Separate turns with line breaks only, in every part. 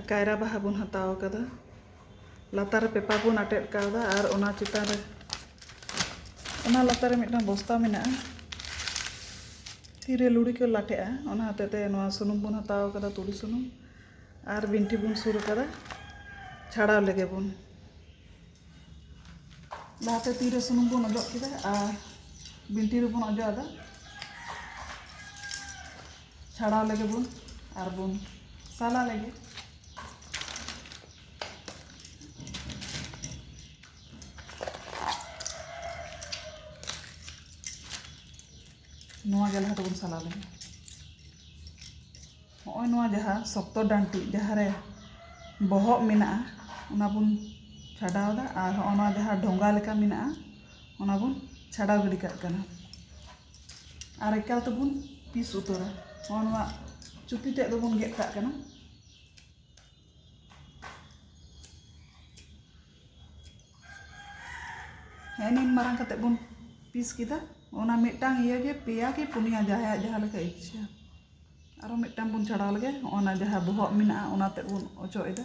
ᱠᱟᱭᱨᱟ ᱵᱟᱦᱟ ᱵᱚᱱ ᱦᱟᱛᱟᱣ ᱠᱟᱫᱟ ᱞᱟᱛᱟᱨ ᱨᱮ ᱯᱮᱯᱟᱨ ᱵᱚᱱ ᱟᱴᱮᱫ ᱠᱟᱣᱫᱟ ᱟᱨ ᱚᱱᱟ ᱪᱮᱛᱟᱱ ᱨᱮ ᱚᱱᱟ ᱞᱟᱛᱟᱨ ᱨᱮ ᱢᱤᱫᱴᱟᱝ ᱵᱚᱥᱛᱟ ᱢᱮᱱᱟᱜᱼᱟ ᱛᱤᱨᱮ ᱞᱩᱲᱤ ᱠᱚ ᱞᱟᱴᱷᱮᱜᱼᱟ ᱚᱱᱟ ᱦᱚᱛᱮᱡ ᱛᱮ ᱱᱚᱣᱟ ᱥᱩᱱᱩᱢ ᱵᱚᱱ ᱦᱟᱛᱟᱣ ᱠᱟᱫᱟ ᱛᱩᱲᱤ ᱥᱩᱱᱩᱢ ᱟᱨ ᱵᱤᱱᱴᱷᱤ ᱵᱚᱱ ᱥᱩᱨ ᱠᱟᱫᱟ ᱪᱷᱟᱲᱟᱣ ᱞᱮᱜᱮ ᱵᱚᱱ ᱞᱟᱦᱟᱛᱮ ᱛᱤᱨᱮ ᱥᱩᱱᱩᱢ ᱵᱚᱱ ᱚᱡᱚᱜ ᱠᱮᱫᱟ ᱟᱨ ᱵᱤᱱᱴᱷᱤ ᱨᱮᱵᱚᱱ ᱚᱡᱚᱜ ᱟᱫᱟ ᱪᱷᱟᱲᱟᱣ ᱞᱮᱜᱮ ᱵᱚᱱ ᱟᱨ ᱵᱚᱱ ᱥᱟᱞᱟ ᱞᱮᱜᱮ ᱱᱚᱣᱟ ᱜᱮ ᱞᱟᱦᱟ ᱛᱮᱵᱚᱱ ᱥᱟᱞᱟ ᱞᱮᱜᱮ ᱱᱚᱜᱼᱚᱭ ᱱᱚᱣᱟ ᱡᱟᱦᱟᱸ ᱥᱚᱠᱛᱚ ᱰᱟᱹᱱᱴᱤᱡ ᱡᱟᱦᱟᱸ ᱨᱮ ᱵᱚᱦᱚᱜ ᱢᱮᱱᱟᱜᱼᱟ ᱚᱱᱟ ᱵᱚᱱ ᱪᱷᱟᱰᱟᱣ ᱮᱫᱟ ᱟᱨ ᱱᱚᱜᱼᱚᱭ ᱱᱚᱣᱟ ᱡᱟᱦᱟᱸ ᱰᱷᱚᱸᱜᱟ ᱞᱮᱠᱟ ᱢᱮᱱᱟᱜᱼᱟ ᱚᱱᱟ ᱵᱚᱱ ᱪᱷᱟᱰᱟᱣ ᱜᱤᱰᱤ ᱠᱟᱜ ᱠᱟᱱᱟ ᱟᱨ ᱮᱠᱟᱞ ᱛᱮᱵᱚᱱ ᱯᱤᱥ ᱩᱛᱟᱹᱨᱟ ᱱᱚᱜᱼᱚᱭ ᱱᱚᱣᱟ ᱪᱩᱯᱤ ᱛᱮᱫ ᱫᱚᱵᱚᱱ ᱜᱮᱫ ᱠᱟᱜ ᱠᱟᱱᱟ ᱦᱮᱸ ᱱᱤᱱ ᱢᱟᱨᱟᱝ ᱠᱟᱛᱮ ᱵᱚᱱ ᱯᱤᱥ ᱠᱮᱫᱟ ᱚᱱᱟ ᱢᱤᱫᱴᱟᱝ ᱤᱭᱟᱹ ᱜᱮ ᱯᱮᱭᱟ ᱠᱤ ᱯᱩᱱᱭᱟ ᱡᱟᱦᱟᱸᱭᱟᱜ ᱡᱟᱦᱟᱸ ᱞᱮᱠᱟ ᱤᱪᱪᱷᱟᱹ ᱟᱨᱚ ᱢᱤᱫᱴᱟᱝ ᱵᱚᱱ ᱪᱷᱟᱰᱟᱣ ᱞᱮᱜᱮ ᱦᱚᱸᱜᱼᱚ ᱱᱟ ᱡᱟᱦᱟᱸ ᱵᱚᱦᱚᱜ ᱢᱮᱱᱟᱜᱼᱟ ᱚᱱᱟ ᱛᱮᱫ ᱵᱚᱱ ᱚᱪᱚᱜ ᱮᱫᱟ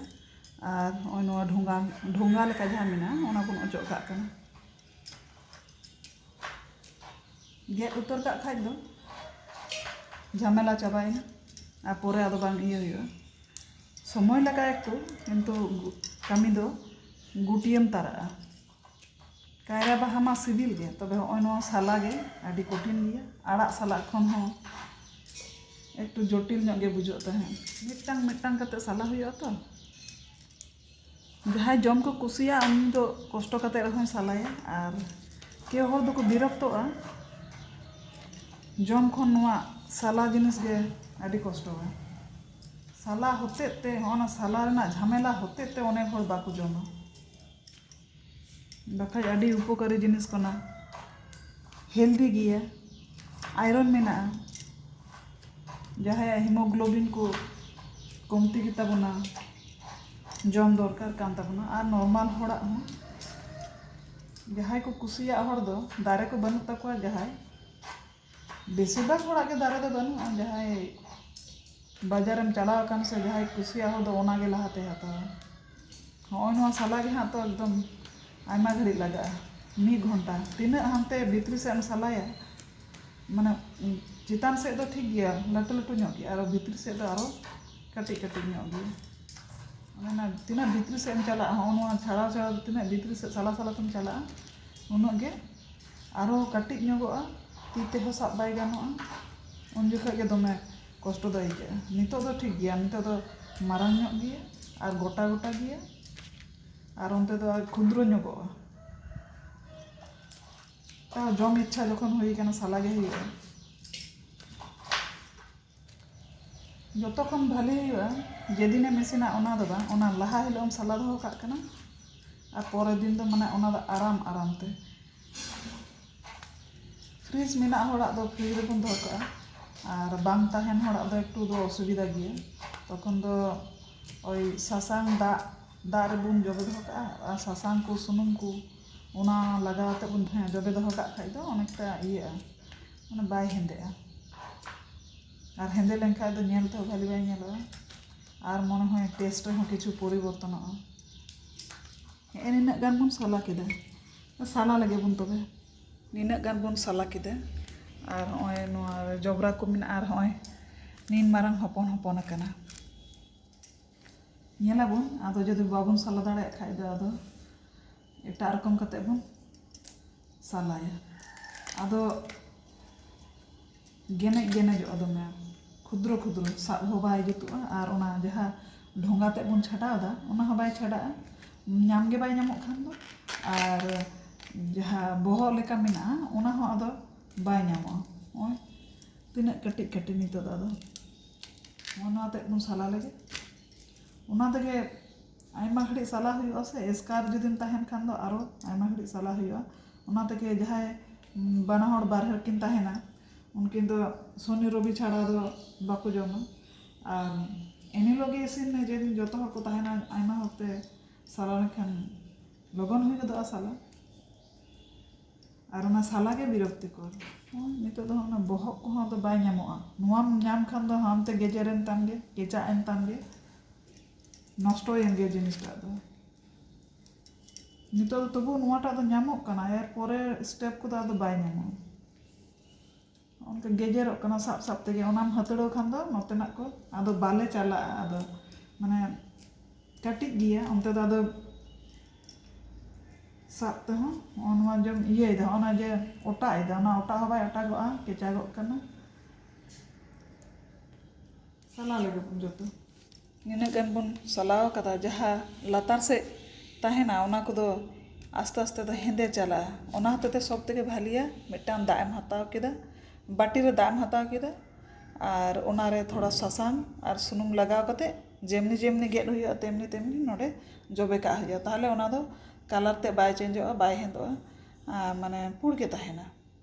ᱟᱨ ᱦᱚᱸᱜᱼᱚᱭ ᱱᱚᱣᱟ ᱰᱷᱚᱸᱜᱟ ᱰᱷᱚᱸᱜᱟ ᱞᱮᱠᱟ ᱡᱟᱦᱟᱸ ᱢᱮᱱᱟᱜᱼᱟ ᱚᱱᱟ ᱵᱚᱱ ᱚᱪᱚᱜ ᱠᱟᱜ ᱠᱟᱱᱟ ᱜᱮᱫ ᱩᱛᱟᱹᱨ ᱠᱟᱜ ᱠᱷᱟᱡ ᱫᱚ ᱡᱷᱟᱢᱮᱞᱟ ᱪᱟᱵᱟᱭᱮᱱᱟ ᱟᱨ ᱯᱚᱨᱮ ᱟᱫᱚ ᱵᱟᱝ ᱤᱭᱟᱹ ᱦᱩᱭᱩᱜᱼᱟ ᱥᱚᱢᱚᱭ ᱞᱟᱜᱟᱜᱼᱟ ᱮᱠᱴᱩ ᱠᱤᱱᱛᱩ ᱠᱟᱹᱢᱤ ᱫᱚ ᱜᱩᱴᱭᱟᱹᱢ ᱛᱟᱨᱟᱜᱼᱟ ᱠᱟᱭᱨᱟ ᱵᱟᱦᱟ ᱢᱟ ᱥᱤᱵᱤᱞ ᱜᱮ ᱛᱚᱵᱮ ᱦᱚᱸᱜᱼᱚᱭ ᱱᱚᱣᱟ ᱥᱟᱞᱟ ᱜᱮ ᱟᱹᱰᱤ ᱠᱚᱴᱷᱤᱱ ᱜᱮᱭᱟ ᱟᱲᱟᱜ ᱥᱟᱞᱟᱜ ᱠᱷᱚᱱ ᱦᱚᱸ ᱮᱠᱴᱩ ᱡᱚᱴᱤᱞ ᱧᱚᱜ ᱜᱮ ᱵᱩᱡᱷᱟᱹᱜ ᱛᱟᱦᱮᱸᱫ ᱢᱤᱫᱴᱟᱝ ᱢᱤᱫᱴᱟᱝ ᱠᱟᱛᱮ ᱥᱟᱞᱟ ᱦᱩᱭᱩᱜᱼᱟ ᱛᱚ ᱡᱟᱦᱟᱸᱭ ᱡᱚᱢ ᱠᱚ ᱠᱩᱥᱤᱭᱟᱜᱼᱟ ᱩᱱᱤ ᱫᱚ ᱠᱚᱥᱴᱚ ᱠᱟᱛᱮ ᱨᱮᱦᱚᱸᱭ ᱥᱟᱞᱟᱭᱟ ᱟᱨ ᱠᱮᱣ ᱦᱚᱲ ᱫᱚᱠᱚ ᱵᱤᱨᱚᱠᱛᱚᱜᱼᱟ ᱡᱚᱢ ᱠᱷᱚᱱ ᱱᱚᱣᱟ ᱥᱟᱞᱟ ᱡᱤᱱᱤᱥ ᱜᱮ ᱟᱹᱰᱤ ᱠᱚᱥᱴᱚᱣᱟ ᱥᱟᱞᱟ ᱦᱚᱛᱮᱡ ᱛᱮ ᱦᱚᱸᱜᱼᱚ ᱱᱟ ᱥᱟᱞᱟ ᱨᱮᱱᱟᱜ ᱡᱷᱟᱢᱮᱞᱟ ᱦᱚᱛᱮᱡ ᱛᱮ ᱚᱱᱮᱠ ᱦᱚᱲ ᱵᱟᱠᱚ ᱡᱚᱢᱟ ᱵᱟᱠᱷᱟᱡ ᱟᱹᱰᱤ ᱩᱯᱚᱠᱟᱨᱤ ᱡᱤᱱᱤᱥ ᱠᱟᱱᱟ ᱦᱮᱞᱫᱤ ᱜᱮᱭᱟ ᱟᱭᱨᱚᱱ ᱢᱮᱱᱟᱜᱼᱟ ᱡᱟᱦᱟᱸᱭᱟᱜ ᱦᱤᱢᱳᱜᱞᱳᱵᱤᱱ ᱠᱚ ᱠᱚᱢᱛᱤ ᱜᱮᱛᱟ ᱵᱚᱱᱟ ᱡᱚᱢ ᱫᱚᱨᱠᱟᱨ ᱠᱟᱱ ᱛᱟᱵᱚᱱᱟ ᱟᱨ ᱱᱚᱨᱢᱟᱞ ᱦᱚᱲᱟᱜ ᱦᱚᱸ ᱡᱟᱦᱟᱸᱭ ᱠᱚ ᱠᱩᱥᱤᱭᱟᱜ ᱦᱚᱲ ᱫᱚ ᱫᱟᱨᱮ ᱠᱚ ᱵᱟᱹᱱᱩᱜ ᱛᱟᱠᱚᱣᱟ ᱡᱟᱦᱟᱸᱭ ᱵᱮᱥᱤᱨ ᱵᱷᱟᱜᱽ ᱦᱚᱲᱟᱜ ᱜᱮ ᱫᱟᱨᱮ ᱫᱚ ᱵᱟᱹᱱᱩᱜᱼᱟ ᱡᱟᱦᱟᱸᱭ ᱵᱟᱡᱟᱨ ᱮᱢ ᱪᱟᱞᱟᱣ ᱟᱠᱟᱱ ᱥᱮ ᱡᱟᱦᱟᱸᱭ ᱠᱩᱥᱤᱭᱟᱜ ᱦᱚᱲ ᱫᱚ ᱚᱱᱟ ᱜᱮ ᱞᱟᱦᱟ ᱛᱮᱭ ᱦᱟᱛᱟᱣᱟ ᱱᱚᱜᱼᱚᱭ ᱱᱚᱣᱟ ᱥᱟᱞᱟ ᱜᱮ ᱦᱟᱸᱜ ᱛᱚ ᱮᱠᱫᱚᱢ ᱟᱭᱢᱟ ᱜᱷᱟᱹᱲᱤᱡ ᱞᱟᱜᱟᱜᱼᱟ ᱢᱤᱫ ᱜᱷᱚᱱᱴᱟ ᱛᱤᱱᱟᱹᱜ ᱦᱟᱱᱛᱮ ᱵᱷᱤᱛᱨᱤ ᱥᱮᱫ ᱮᱢ ᱥᱟᱞᱟᱭᱟ ᱢᱟᱱᱮ ᱪᱮᱛᱟᱱ ᱥᱮᱫ ᱫᱚ ᱴᱷᱤᱠ ᱜᱮᱭᱟ ᱞᱟᱹᱴᱩ ᱞᱟᱹᱴᱩ ᱧᱚᱜ ᱜᱮᱭᱟ ᱟᱨ ᱵᱷᱤᱛᱨᱤ ᱥᱮᱫ ᱫᱚ ᱟᱨᱚ ᱠᱟᱹᱴᱤᱡ ᱠᱟᱹᱴᱤᱡ ᱧᱚᱜ ᱜᱮᱭᱟ ᱚᱱᱟ ᱛᱤᱱᱟᱹᱜ ᱵᱷᱤᱛᱨᱤ ᱥᱮᱫ ᱮᱢ ᱪᱟᱞᱟᱜᱼᱟ ᱱᱚᱜᱼᱚᱭ ᱱᱚᱣᱟ ᱪᱷᱟᱲᱟᱣ ᱪᱷᱟᱲᱟᱣ ᱛᱤᱱᱟᱹᱜ ᱵᱷᱤᱛᱨᱤ ᱥᱮᱫ ᱥᱟᱞᱟ ᱥᱟᱞᱟ ᱛᱮᱢ ᱪᱟᱞᱟᱜᱼᱟ ᱩᱱᱟᱹᱜ ᱜᱮ ᱟᱨᱦᱚᱸ ᱠᱟᱹᱴᱤᱡ ᱧᱚᱜᱚᱜᱼᱟ ᱛᱤ ᱛᱮᱦᱚᱸ ᱥᱟᱵ ᱵᱟᱭ ᱜᱟᱱᱚᱜᱼᱟ ᱩᱱ ᱡᱚᱠᱷᱚᱱ ᱜᱮ ᱫᱚᱢᱮ ᱠᱚᱥᱴᱚ ᱫᱚ ᱟᱹᱭᱠᱟᱹᱜᱼᱟ ᱱᱤᱛᱳᱜ ᱫᱚ ᱴᱷᱤᱠ ᱜᱮᱭᱟ ᱱᱤᱛᱳᱜ ᱫᱚ ᱢᱟᱨᱟᱝ ᱧᱚᱜ ᱜᱮᱭᱟ ᱟᱨ ᱜᱚᱴᱟ ᱜᱚᱴᱟ ᱜᱮᱭᱟ ᱟᱨ ᱚᱱᱛᱮ ᱫᱚ ᱟᱨ ᱠᱷᱩᱫᱨᱚ ᱧᱚᱜᱚᱜᱼᱟ ᱛᱟᱣ ᱡᱚᱢ ᱤᱪᱪᱷᱟ ᱡᱚᱠᱷᱚᱱ ᱦᱩᱭᱟᱠᱟᱱᱟ ᱥᱟᱞᱟ ᱜᱮ ᱦᱩᱭᱩᱜᱼᱟ ᱡᱚᱛᱚ ᱠᱷᱚᱱ ᱵᱷᱟᱹᱞᱤ ᱦᱩᱭᱩᱜᱼᱟ ᱡᱮᱫᱤᱱ ᱮᱢ ᱤᱥᱤᱱᱟ ᱚᱱᱟ ᱫᱚ ᱵᱟᱝ ᱚᱱᱟ ᱞᱟᱦᱟ ᱦᱤᱞᱳᱜ ᱮᱢ ᱥᱟᱞᱟ ᱫᱚᱦᱚ ᱠᱟᱜ ᱠᱟᱱᱟ ᱟᱨ ᱯᱚᱨᱮᱨ ᱫᱤᱱ ᱫᱚ ᱢᱟᱱᱮ ᱚᱱᱟ ᱫᱚ ᱟᱨᱟᱢ ᱟᱨᱟᱢ ᱛᱮ ᱯᱷᱨᱤᱡᱽ ᱢᱮᱱᱟᱜ ᱦᱚᱲᱟᱜ ᱫᱚ ᱯᱷᱨᱤᱡᱽ ᱨᱮᱵᱚᱱ ᱫᱚᱦᱚ ᱠᱟᱜᱼᱟ ᱟᱨ ᱵᱟᱝ ᱛᱟᱦᱮᱱ ᱦᱚᱲᱟᱜ ᱫᱚ ᱮᱠᱴᱩ ᱫᱚ ᱚᱥᱩᱵᱤᱫᱷᱟ ᱜᱮᱭᱟ ᱛᱚᱠᱷᱚᱱ ᱫᱚ ᱳᱭ ᱥᱟᱥᱟᱝ ᱫᱟᱜ ᱫᱟᱜ ᱨᱮᱵᱚᱱ ᱡᱚᱵᱮ ᱫᱚᱦᱚ ᱠᱟᱜᱼᱟ ᱟᱨ ᱥᱟᱥᱟᱝ ᱠᱚ ᱥᱩᱱᱩᱢ ᱠᱚ ᱚᱱᱟ ᱞᱟᱜᱟᱣ ᱠᱟᱛᱮᱫ ᱵᱚᱱ ᱡᱚᱵᱮ ᱫᱚᱦᱚ ᱠᱟᱜ ᱠᱷᱟᱱ ᱫᱚ ᱚᱱᱮᱠᱴᱟ ᱤᱭᱟᱹᱜᱼᱟ ᱢᱟᱱᱮ ᱵᱟᱭ ᱦᱮᱸᱫᱮᱜᱼᱟ ᱟᱨ ᱦᱮᱸᱫᱮ ᱞᱮᱱᱠᱷᱟᱱ ᱫᱚ ᱧᱮᱞ ᱛᱮᱦᱚᱸ ᱵᱷᱟᱹᱞᱤ ᱵᱟᱭ ᱧᱮᱞᱚᱜᱼᱟ ᱟᱨ ᱢᱚᱱᱮ ᱦᱚᱭ ᱴᱮᱥᱴ ᱨᱮᱦᱚᱸ ᱠᱤᱪᱷᱩ ᱯᱚᱨᱤᱵᱚᱨᱛᱚᱱᱚᱜᱼᱟ ᱦᱮᱸᱜᱼᱮ ᱱᱤᱱᱟᱹᱜ ᱜᱟᱱ ᱵᱚᱱ ᱥᱟᱞᱟ ᱠᱮᱫᱟ ᱥᱟᱞᱟ ᱞᱮᱜᱮ ᱵᱚᱱ ᱛᱚᱵᱮ ᱱᱤᱱᱟᱹᱜ ᱜᱟᱱ ᱵᱚᱱ ᱥᱟᱞᱟ ᱠᱮᱫᱟ ᱟᱨ ᱦᱚᱸᱜᱼᱚᱭ ᱱᱚᱣᱟ ᱡᱚᱵᱽᱨᱟ ᱠᱚ ᱢᱮᱱᱟᱜᱼᱟ ᱟᱨ ᱦᱚᱸᱜᱼᱚᱭ ᱱᱤᱱ ᱢᱟᱨᱟᱝ ᱦᱚᱯᱚᱱ ᱦᱚᱯᱚᱱ ᱟᱠᱟᱱᱟ ᱧᱮᱞᱟᱵᱚᱱ ᱟᱫᱚ ᱡᱩᱫᱤ ᱵᱟᱵᱚᱱ ᱥᱟᱞᱟ ᱫᱟᱲᱮᱭᱟᱜ ᱠᱷᱟᱱ ᱫᱚ ᱟᱫᱚ ᱮᱴᱟᱜ ᱨᱚᱠᱚᱢ ᱠᱟᱛᱮᱫ ᱵᱚᱱ ᱥᱟᱞᱟᱭᱟ ᱟᱫᱚ ᱜᱮᱱᱮᱡ ᱜᱮᱱᱮᱡᱚᱜᱼᱟ ᱫᱚᱢᱮ ᱠᱷᱩᱫᱨᱚ ᱠᱷᱩᱫᱨᱚ ᱥᱟᱵ ᱦᱚᱸ ᱵᱟᱭ ᱡᱩᱛᱩᱜᱼᱟ ᱟᱨ ᱚᱱᱟ ᱡᱟᱦᱟᱸ ᱰᱷᱚᱸᱜᱟ ᱛᱮᱫ ᱵᱚᱱ ᱪᱷᱟᱰᱟᱣᱫᱟ ᱚᱱᱟ ᱦᱚᱸ ᱵᱟᱭ ᱪᱷᱟᱰᱟᱜᱼᱟ ᱧᱟᱢ ᱜᱮ ᱵᱟᱭ ᱧᱟᱢᱚᱜ ᱠᱷᱟᱱ ᱫᱚ ᱟᱨ ᱡᱟᱦᱟᱸ ᱵᱚᱦᱚᱜ ᱞᱮᱠᱟ ᱢᱮᱱᱟᱜᱼᱟ ᱚᱱᱟ ᱦᱚᱸ ᱟᱫᱚ ᱵᱟᱭ ᱧᱟᱢᱚᱜᱼᱟ ᱱᱚᱜᱼᱚᱭ ᱛᱤᱱᱟᱹᱜ ᱠᱟᱹᱴᱤᱡ ᱠᱟᱹᱴᱤᱡ ᱱᱤᱛᱚᱜ ᱫᱚ ᱟᱫᱚ ᱱᱚᱜᱼᱚ ᱱᱚᱣᱟ ᱛᱮᱫ ᱵᱚᱱ ᱥᱟᱞᱟ ᱞᱮᱜᱮ ᱚᱱᱟ ᱛᱮᱜᱮ ᱟᱭᱢᱟ ᱜᱷᱟᱹᱲᱤᱡ ᱥᱟᱞᱟ ᱦᱩᱭᱩᱜᱼᱟ ᱥᱮ ᱮᱥᱠᱟᱨ ᱡᱩᱫᱤᱢ ᱛᱟᱦᱮᱱ ᱠᱷᱟᱱ ᱫᱚ ᱟᱨᱚ ᱟᱭᱢᱟ ᱜᱷᱟᱹᱲᱤᱡ ᱥᱟᱞᱟ ᱦᱩᱭᱩᱜᱼᱟ ᱚᱱᱟ ᱛᱮᱜᱮ ᱡᱟᱦᱟᱸᱭ ᱵᱟᱱᱟ ᱦᱚᱲ ᱵᱟᱨᱦᱮ ᱨᱮᱠᱤᱱ ᱛᱟᱦᱮᱱᱟ ᱩᱱᱠᱤᱱ ᱫᱚ ᱥᱚᱱᱤ ᱨᱚᱵᱤ ᱪᱷᱟᱲᱟ ᱫᱚ ᱵᱟᱠᱚ ᱡᱚᱢᱟ ᱟᱨ ᱮᱱ ᱦᱤᱞᱳᱜ ᱜᱮ ᱤᱥᱤᱱ ᱢᱮ ᱡᱮᱫᱤᱱ ᱡᱚᱛᱚ ᱦᱚᱲ ᱠᱚ ᱛᱟᱦᱮᱱᱟ ᱟᱭᱢᱟ ᱦᱚᱲ ᱛᱮ ᱥᱟᱞᱟ ᱞᱮᱱᱠᱷᱟᱱ ᱞᱚᱜᱚᱱ ᱦᱩᱭ ᱜᱚᱫᱚᱜᱼᱟ ᱥᱟᱞᱟ ᱟᱨ ᱚᱱᱟ ᱥᱟᱞᱟ ᱜᱮ ᱵᱤᱨᱚᱠᱛᱤᱠᱚᱨ ᱦᱚᱸ ᱱᱤᱛᱚᱜ ᱫᱚ ᱦᱟᱸᱜ ᱚᱱᱟ ᱵᱚᱦᱚᱜ ᱠᱚᱦᱚᱸ ᱟᱫᱚ ᱵᱟᱭ ᱧᱟᱢᱚᱜᱼᱟ ᱱᱚᱣᱟᱢ ᱧᱟᱢ ᱠᱷᱟᱱ ᱫᱚ ᱦᱟᱱᱛᱮ ᱜᱮᱡᱮᱨᱮᱱ ᱛᱟᱢ ᱜᱮ ᱠᱮᱪᱟᱜ ᱮᱱ ᱛᱟᱢ ᱜᱮ ᱱᱚᱥᱴᱚᱭᱮᱱ ᱜᱮᱭᱟ ᱡᱤᱱᱤᱥ ᱴᱟᱜ ᱫᱚ ᱱᱤᱛᱚᱜ ᱫᱚ ᱛᱚᱵᱩ ᱱᱚᱣᱟ ᱴᱟᱜ ᱫᱚ ᱧᱟᱢᱚᱜ ᱠᱟᱱᱟ ᱮᱨ ᱯᱚᱨᱮ ᱥᱴᱮᱯ ᱠᱚᱫᱚ ᱟᱫᱚ ᱵᱟᱭ ᱧᱟᱢᱚᱜᱼᱟ ᱱᱚᱜᱼᱚ ᱱᱚᱝᱠᱟ ᱜᱮᱡᱮᱨᱚᱜ ᱠᱟᱱᱟ ᱥᱟᱵ ᱥᱟᱵ ᱛᱮᱜᱮ ᱚᱱᱟᱢ ᱦᱟᱹᱛᱲᱟᱹᱣ ᱠᱷᱟᱱ ᱫᱚ ᱱᱚᱛᱮᱱᱟᱜ ᱠᱚ ᱟᱫᱚ ᱵᱟᱞᱮ ᱪᱟᱞᱟᱜᱼᱟ ᱟᱫᱚ ᱢᱟᱱᱮ ᱠᱟᱹᱴᱤᱡ ᱜᱮᱭᱟ ᱚᱱᱛᱮ ᱫᱚ ᱟᱫᱚ ᱥᱟᱵ ᱛᱮᱦᱚᱸ ᱱᱚᱜᱼᱚ ᱱᱚᱣᱟ ᱡᱮᱢ ᱤᱭᱟᱹᱭᱮᱫᱟ ᱱᱚᱜᱼᱚ ᱱᱚᱣᱟ ᱡᱮ ᱚᱴᱟᱜ ᱮᱫᱟ ᱚᱱᱟ ᱚᱴᱟᱜ ᱦᱚᱸ ᱵᱟᱭ ᱚᱴᱟᱜᱚᱜᱼᱟ ᱠᱮᱪᱟᱜᱚᱜ ᱠᱟᱱᱟ ᱥᱟᱞᱟ ᱞᱮᱜᱮ ᱵᱚᱱ ᱡᱚᱛᱚ ᱱᱤᱱᱟᱹᱜ ᱜᱟᱱ ᱵᱚᱱ ᱥᱟᱞᱟ ᱟᱠᱟᱫᱟ ᱡᱟᱦᱟᱸ ᱞᱟᱛᱟᱨ ᱥᱮᱫ ᱛᱟᱦᱮᱱᱟ ᱚᱱᱟ ᱠᱚᱫᱚ ᱟᱥᱛᱮ ᱟᱥᱛᱮ ᱛᱮ ᱦᱮᱸᱫᱮ ᱪᱟᱞᱟᱜᱼᱟ ᱚᱱᱟ ᱦᱚᱛᱮᱡ ᱛᱮ ᱥᱚᱵ ᱛᱷᱮᱠᱮ ᱵᱷᱟᱹᱞᱤᱭᱟ ᱢᱤᱫᱴᱟᱝ ᱫᱟᱜ ᱮᱢ ᱦᱟᱛᱟᱣ ᱠᱮᱫᱟ ᱵᱟᱹᱴᱤ ᱨᱮ ᱫᱟᱜ ᱮᱢ ᱦᱟᱛᱟᱣ ᱠᱮᱫᱟ ᱟᱨ ᱚᱱᱟᱨᱮ ᱛᱷᱚᱲᱟ ᱥᱟᱥᱟᱝ ᱟᱨ ᱥᱩᱱᱩᱢ ᱞᱟᱜᱟᱣ ᱠᱟᱛᱮ ᱡᱮᱢᱱᱤ ᱡᱮᱢᱱᱤ ᱜᱮᱫ ᱦᱩᱭᱩᱜᱼᱟ ᱛᱮᱢᱱᱤ ᱛᱮᱢᱱᱤ ᱱᱚᱰᱮ ᱡᱚᱵᱮ ᱠᱟᱜ ᱦᱩᱭᱩᱜᱼᱟ ᱛᱟᱦᱚᱞᱮ ᱚᱱᱟ ᱫᱚ ᱠᱟᱞᱟᱨ ᱛᱮᱫ ᱵᱟᱭ ᱪᱮᱧᱡᱚᱜᱼᱟ ᱵᱟᱭ ᱦᱮᱸᱫᱮᱜᱼᱟ ᱟᱨ ᱢᱟᱱᱮ ᱯᱩᱲ ᱜᱮ ᱛᱟᱦᱮᱱᱟ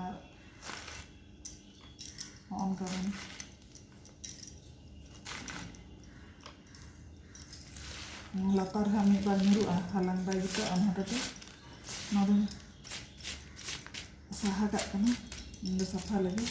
ᱟᱨ ᱦᱚᱸᱜᱼᱚ ᱱᱚᱝᱠᱟ ᱵᱚᱱ ᱱᱚᱣᱟ ᱞᱟᱛᱟᱨ ᱨᱮ ᱦᱟᱸᱜ ᱢᱤᱫ ᱵᱟᱨ ᱧᱩᱨᱩᱜᱼᱟ ᱦᱟᱞᱟᱝ ᱵᱟᱭ ᱡᱩᱛᱩᱜᱼᱟ ᱚᱱᱟ ᱦᱚᱛᱮᱡ ᱛᱮ ᱱᱚᱣᱟ ᱫᱚᱧ ᱥᱟᱦᱟ ᱠᱟᱜ ᱠᱟᱱᱟ ᱤᱧ ᱫᱚ ᱥᱟᱯᱷᱟ ᱞᱟᱹᱜᱤᱫ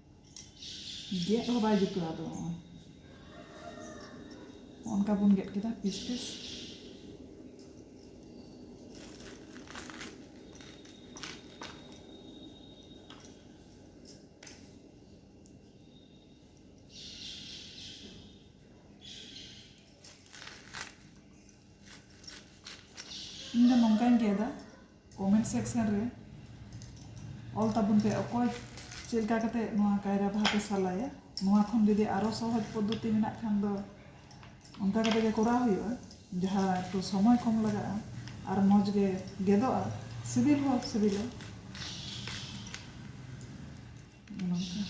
ᱜᱮᱫ ᱦᱚᱸ ᱵᱟᱭ ᱡᱩᱛᱩᱜᱼᱟ ᱟᱫᱚ ᱱᱚᱜᱼᱚᱭ ᱚᱱᱠᱟ ᱵᱚᱱ ᱜᱮᱫ ᱠᱮᱫᱟ ᱯᱤᱥ ᱯᱤᱥ ᱤᱧ ᱫᱚ ᱱᱚᱝᱠᱟᱧ ᱜᱮᱫᱟ ᱠᱚᱢᱮᱱᱴ ᱥᱮᱠᱥᱮᱱ ᱨᱮ ᱚᱞ ᱛᱟᱵᱚᱱ ᱯᱮ ᱚᱠᱚᱭ ᱪᱮᱫ ᱞᱮᱠᱟ ᱠᱟᱛᱮ ᱱᱚᱣᱟ ᱠᱟᱭᱨᱟ ᱵᱟᱦᱟ ᱯᱮ ᱥᱟᱞᱟᱭᱟ ᱱᱚᱣᱟ ᱠᱷᱚᱱ ᱡᱩᱫᱤ ᱟᱨᱚ ᱥᱚᱦᱚᱡᱽ ᱯᱚᱫᱽᱫᱷᱚᱛᱤ ᱢᱮᱱᱟᱜ ᱠᱷᱟᱱ ᱫᱚ ᱚᱱᱠᱟ ᱠᱟᱛᱮ ᱜᱮ ᱠᱚᱨᱟᱣ ᱦᱩᱭᱩᱜᱼᱟ ᱡᱟᱦᱟᱸ ᱮᱠᱴᱩ ᱥᱚᱢᱚᱭ ᱠᱚᱢ ᱞᱟᱜᱟᱜᱼᱟ ᱟᱨ ᱢᱚᱡᱽ ᱜᱮ ᱜᱮᱫᱚᱜᱼᱟ ᱥᱤᱵᱤᱞ ᱦᱚᱸ ᱥᱤᱵᱤᱞᱟ ᱱᱚᱝᱠᱟ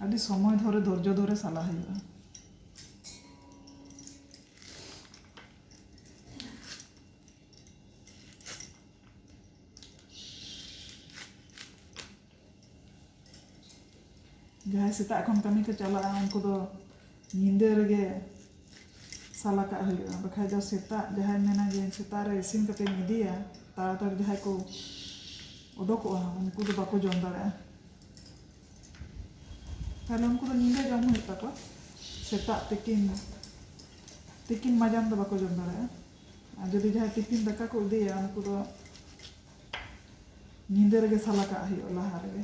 ᱟᱹᱰᱤ ᱥᱚᱢᱚᱭ ᱫᱷᱚᱨᱮ ᱫᱷᱳᱨᱡᱚ ᱫᱷᱚᱨᱮ ᱥᱟᱞᱟ ᱦᱩᱭᱩᱜᱼᱟ ᱡᱟᱦᱟᱸᱭ ᱥᱮᱛᱟᱜ ᱠᱷᱚᱱ ᱠᱟᱹᱢᱤ ᱠᱚ ᱪᱟᱞᱟᱜᱼᱟ ᱩᱱᱠᱩ ᱫᱚ ᱧᱤᱫᱟᱹ ᱨᱮᱜᱮ ᱥᱟᱞ ᱟᱠᱟᱫ ᱦᱩᱭᱩᱜᱼᱟ ᱵᱟᱠᱷᱟᱡ ᱫᱚ ᱥᱮᱛᱟᱜ ᱡᱟᱦᱟᱸᱭ ᱢᱮᱱᱟ ᱡᱮ ᱥᱮᱛᱟᱜ ᱨᱮ ᱤᱥᱤᱱ ᱠᱟᱛᱮᱧ ᱤᱫᱤᱭᱟ ᱛᱟᱲᱟᱛᱟᱲᱤ ᱡᱟᱦᱟᱸᱭ ᱠᱚ ᱚᱰᱚᱠᱚᱜᱼᱟ ᱩᱱᱠᱩ ᱫᱚ ᱵᱟᱠᱚ ᱡᱚᱢ ᱫᱟᱲᱮᱭᱟᱜᱼᱟ ᱛᱟᱦᱚᱞᱮ ᱩᱱᱠᱩ ᱫᱚ ᱧᱤᱫᱟᱹ ᱡᱚᱢ ᱦᱩᱭᱩᱜ ᱛᱟᱠᱚᱣᱟ ᱥᱮᱛᱟᱜ ᱛᱤᱠᱤᱱ ᱛᱤᱠᱤᱱ ᱢᱟᱡᱟᱱ ᱫᱚ ᱵᱟᱠᱚ ᱡᱚᱢ ᱫᱟᱲᱮᱭᱟᱜᱼᱟ ᱟᱨ ᱡᱩᱫᱤ ᱡᱟᱦᱟᱸᱭ ᱴᱤᱯᱷᱤᱱ ᱫᱟᱠᱟ ᱠᱚ ᱤᱫᱤᱭᱟ ᱩᱱᱠᱩ ᱫᱚ ᱧᱤᱫᱟᱹ ᱨᱮᱜᱮ ᱥᱟᱞᱟ ᱠᱟᱜ ᱦᱩᱭᱩᱜᱼᱟ ᱞᱟᱦᱟ ᱨᱮᱜᱮ